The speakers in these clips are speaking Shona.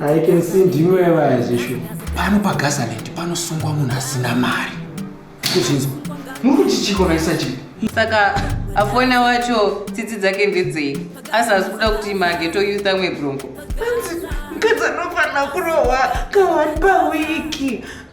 I can see ndimo yevaya zvishu. Pano paGazaland panosungwa munhu asina mari. Kuzvinzwa. Muri kuti chiko raisa chii? Saka afona wacho tsitsi dzake ndedzei? Asi asi kuda kuti mageto youth amwe bronco. Mkadzi anofanira kurohwa kawani pawiki.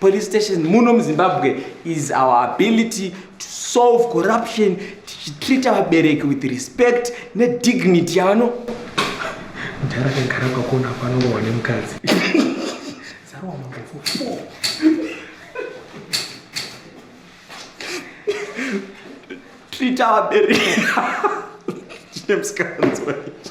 Police station muno muZimbabwe is our ability to solve corruption tichitreata vabereki with respect nedignity yavano mdhara kagara kwakona panorohwa nemukadzi zarohwa magofu four treata vabereki chine musikanzwa ichi